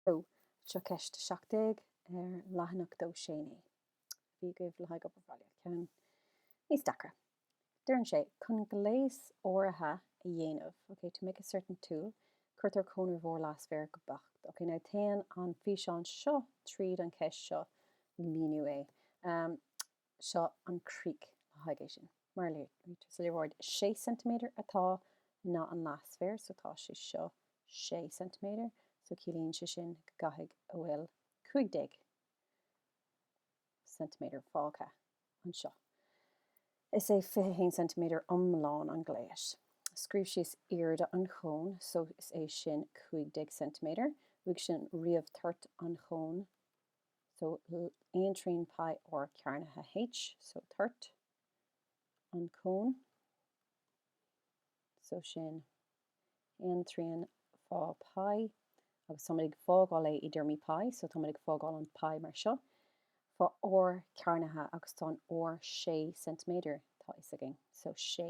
Hello. Seo ceist 17 ar leathanach 2 6 9. Bhí agaibh le haghaidh obair bhaile. Ceann níos deacra. Deireann sé, chun gléas áirithe a dhéanamh, okay, to make a certain tool, cuirtear cón ar bharr leathsféar go beacht. Okay, now téann an físeán seo tríd an cheist seo, míniú é. seo an críoch le haghaidh é sin. Mar a léirítear sa léaráid, is 6 ceintiméadar atá i nga an leathsféir, so tá sé seo 6 ceintiméadar, so ciallaíonn sé sin go gcaithfidh a bhfuil 15 ceintiméadar fágtha anseo. Is é 21 ceintiméadar iomlán an ghléis. Scríobh síos airde an chóin, so is é sin 15 ceintiméadar, uaidh sin ríomh toirt an chóin So aon trian pi r cearnaithe H, so toirt an cón, so sin aon trian fá pi, agus táimid ag fágáil é i dtéarmaí pi, so táimid ag fágáil an pi mar seo, fá r cearnaithe agus tá an r sé ceintiméadar, tá fhios againn. So sé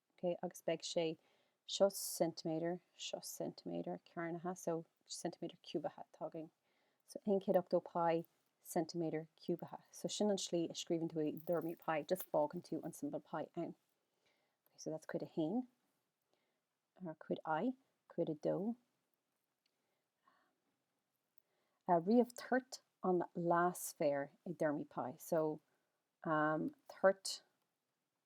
ok agus beidh sé seo ceintiméadar seo ceintiméadar cearnaithe so ceintiméadar ciúbaithe atá againn so aon chéad ochtó pi ceintiméadar ciúbaithe so sin an slí a scríobhann tú i dtéarmaí pi just fágann tú an symbol pi ann ok so that's cuid a haon or cuid i cuid a dó ríomh toirt an leathsféar i dtéarmaí pi so um, toirt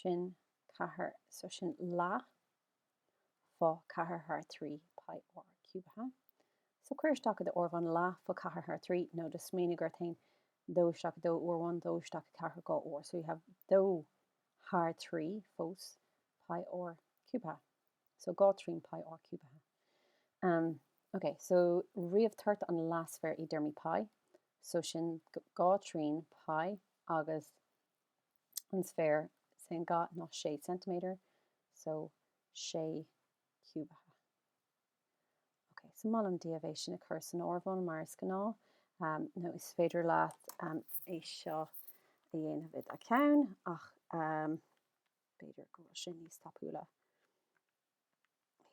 sin ceathair so sin leath fá ceathair thar trí pi r ciúbaithe so cuir isteach i do áireamhán leath fá ceathair thar trí nó just smaoinigh gur téann dó isteach i dó uair amháin dó isteach i ceathair dhá uair so you have dó thar trí fós pi r ciúbaithe so dhá trian pi r ciúbaithe um, ok so ríomh toirt an leathsféir i dtéarmaí pi so sin dhá trian pi agus an sféir is é an ga ná 6 ceintiméadar, so 6 ciúbaithe. Ok, so molaim daoibh é sin a chur san áireamhán mar is gnáth, um, nó is féidir leat um, é seo a dhéanamh i do ceann, ach um, b'fhéidir go bhfuil sé níos tapúla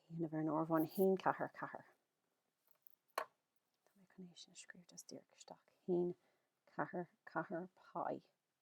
dhéanamh ar an áireamhán 1 4 4 Tá mé chun é sin a scríobh just díreach isteach 1 4 4 pi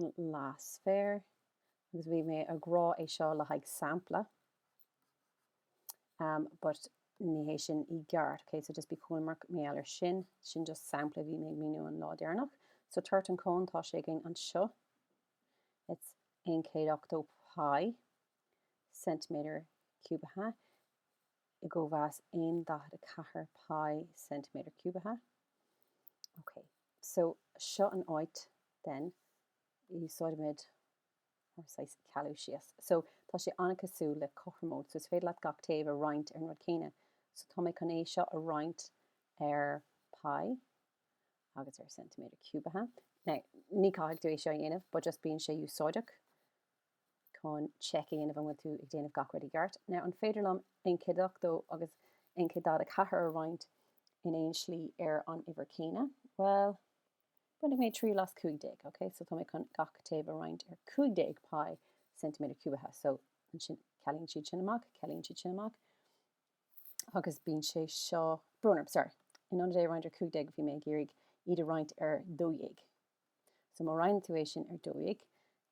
an leathsféar agus bhí mé ag rá é seo le haghaidh sampla um but ní hé sin i gceart okay so just bí cúramach mar gheall air sin sin just sampla bhí mé ag míniú an lá deireanach so toirt an cón tá sé againn anseo it's 180 pi ceintiméadar ciúbaithe i gcóimheas aon daichead a ceathair pi ceintiméadar ciúbaithe. Ok, so seo an áit then úsáidimid ár saghas cealú síos. So tá sé an-cosúil le cothromóid, so is féidir leat gach taobh a roinnt ar an rud céanna. So tá mé chun é seo a roinnt ar pi agus ar ceintiméadar ciúbaithe. Now, ní caithfidh tú é seo a dhéanamh, but just bíonn sé úsáideach. chun check a dhéanamh an bhfuil tú ag déanamh gach rud i gceart. Now an féidir liom an 180 agus an 144 a roinnt in aon slí ar an uimhir céanna? Bhuel, bainfidh mé triail as 15, ok? So tá mé chun gach taobh a roinnt ar 15 pi ceintiméadar ciúbaithe. So ansin cealaíonn siad sin amach, cealaíonn siad sin amach agus bíonn sé seo, brón orm, sorry, in ionad é a roinnt ar 15 bhí mé ag iarraidh iad a roinnt ar 12. So má roinneann tú é sin ar 12,